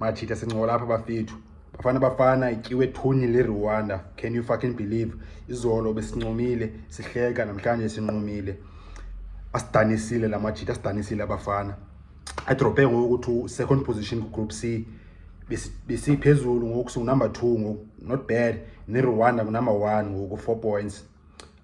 machita sincola apha bafethu bafana bafana ityiwe thuni lerwanda can you fucking believe izolo besincomile sihleka namhlanje sinqumile asidanisile la majita asidanisile abafana adrophe ngoku ukuthi second position kugroup c besiphezulu ngoku singunumber two ngoku not bad nerwanda ngunumber one ngoku four points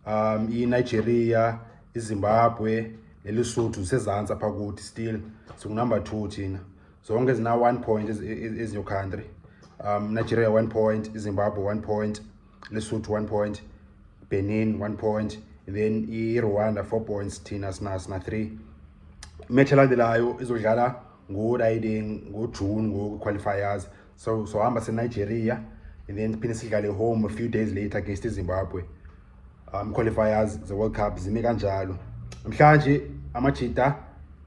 um inigeria izimbabwe nelisotho zisezantsi apha kuthi still singunumber two thina zonke zina-one point ezinyo country um nigeria one point izimbabwe one point lesotho one point benin one point then irwanda four points thina sina sina three imetshi elandelayo izodlala ngoriding ngojune ngoku-qualifiers so sohamba so senigeria and then phinde sidlale home a few days later against izimbabwe um qualifiers ze-world cup zime kanjalo namhlanje amajita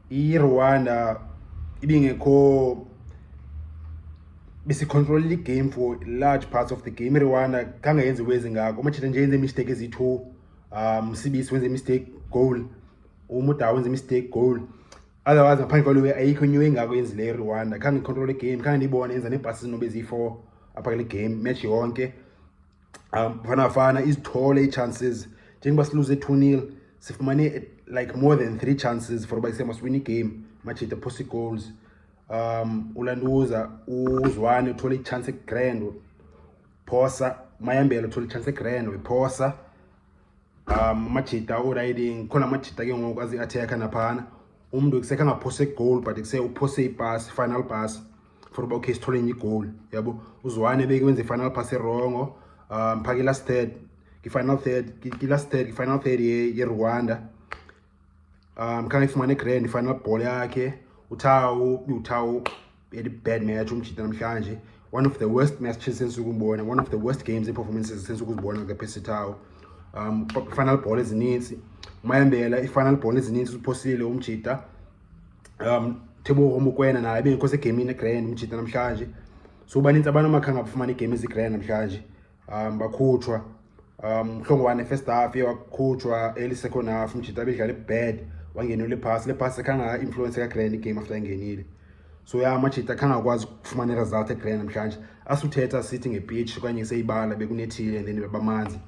irwanda ibingekho besicontrolela igame for large parts of the game irwanda kangayenzi wezi ngako amajita nje yenze imistake eziyi-two um sibisi wenze imistake goal umuda wenze imistake goal otherwise ngaphandle kwalo ayikho inyo engako yenzileyo irwanda khange ndicontrole igame khange ndiyibone yenza neebhasi zinobe ziyi-four apha kule game match yonke um fanafana izithole ii-chances njengoba siluze two nil sifumane like more than three chances for uba isema siwine igame machita post goals um ulanduza uzwane uthole ichance egrand phosa mayambela uthole ichance egrand wephosa um majita orayithi ngikhona amajita ke ngoku azi-athekha naphana umntu kusekhe angaphose igowuli but kuse uphose ibhasi final bhasi for uba okay sithole enye igowuli yabo uzwane beke wenze i-final pass erongo um phake i-last third ngi-final third ngi-last third ngi-final third yerwanda um khange ifumane grand i-final ball yakhe uthawu uthawu very bad match umjita namhlanje one of the worst matches sense ukumbona one of the worst games iperformances sense ukuzibona ke phesithawo um final ball ezininzi umayambela i-final ball ezininzi uphosile umjita um thebo omukwena naye bengekho segemini egrand umjita namhlanje so baninzi abantu amakhanga bafumana iigame ezigrand namhlanje um bakhutshwa um mhlongwane first half ye wakhutshwa early second half mjita abedlala ibad wangenela iphasi le phasi ekhanga influence kagrand igame after engenile so ya amajita akhanga akwazi ukufumana iresult egrand namhlanje asuthetha sithi ngepitch okanye seyibala bekunethile and then bebamanzi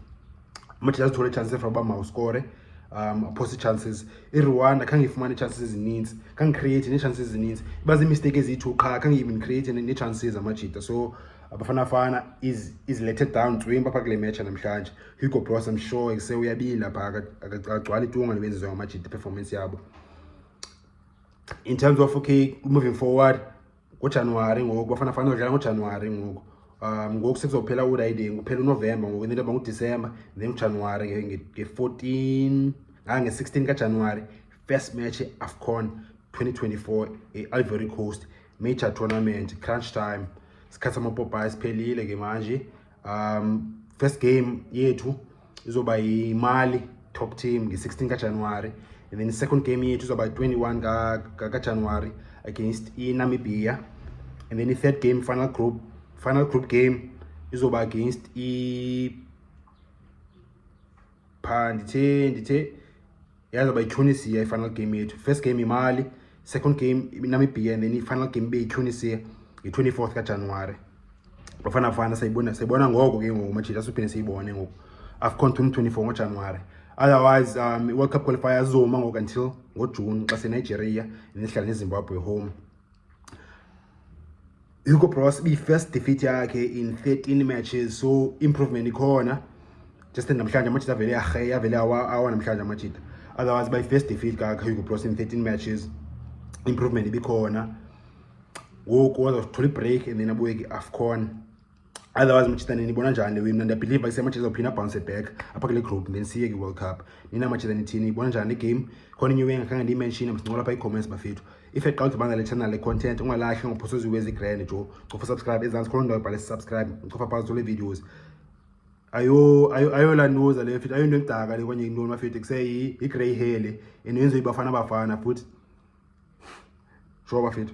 amajita azithole chance efra uba mawuskore um aphose ii-chances irwanda khange ifumane ii-chances ezininzi khange create nee-chances ezininzi iba ziimisteyiki eziyi-two qha khange even create nee-chances amajita so Abafana Fana is is let it down twimba pha kule match namhlanje. Hugo Broos I'm sure ekuse uyabila pha akagcwala itunga nebenzizwa ngamajidi performance yabo. In terms of okay moving forward ngoJanuary ngoku Bafana Fana udlala ngoJanuary ngoku. Um ngoku sekuzophela uRiding kuphela uNovember ngoku into yoba nguDecember then uJanuary nge-14 ngange-16 kaJanuary first match e-AFCON 2024 e-Ivory Coast major tournament crunch time sikhathi amapopayi siphelile ke manje um first game yethu izoba yimali top team nge-16 kajanuwari and then second game yethu izoba 21 kajanuwari against inamibia and then i-third game final group final group game izoba against i phaa ndithe ndithe yaza bayityhonisiya i-final game yethu first game imali second game namibhiya and then i-final game ibe yityhonisiya nge-twenty fourth kajanuwari bafana fana sayibona sayibona ngoko ke ngoku majita siphinde siyibone ngoku afcon twenty twenty four ngojanuwari otherwise um i-world cup qualifier azoma ngoku until ngojuni xa senigeria and nehlala nezimbabwe home Hugo Broos ibiyi-first defeat yakhe in 13 matches so improvement ikhona just namhlanje amajita avele yarheya avele awa namhlanje amajita otherwise bayi-first defeat kahugo bros in 13 matches improvement ibikhona ngoku wazothola ibreak and then abuye ke-afcon otherwise machithane nibona njani wimna ndiyabhiliva isemachitha izawuphinda abhounce back apha kule group then siye kwi-world cup nina machitha nithini nibona njani le game khona inye wenga khange ndiyimenshine msincola apha ii-comments bafethu if eqala udibana le channel le content ungalahle ngophosozi wezi grand jo cofa subscribe ezantsi khona ndawo ibhale subscribe cofa phantsi zole videos ayo ayo ayo la noza le mfethu ayo into engidaka le kwanye intoni mafethu kuseyi yi-grey hair le and yenziwe ibafana bafana futhi sure bafethu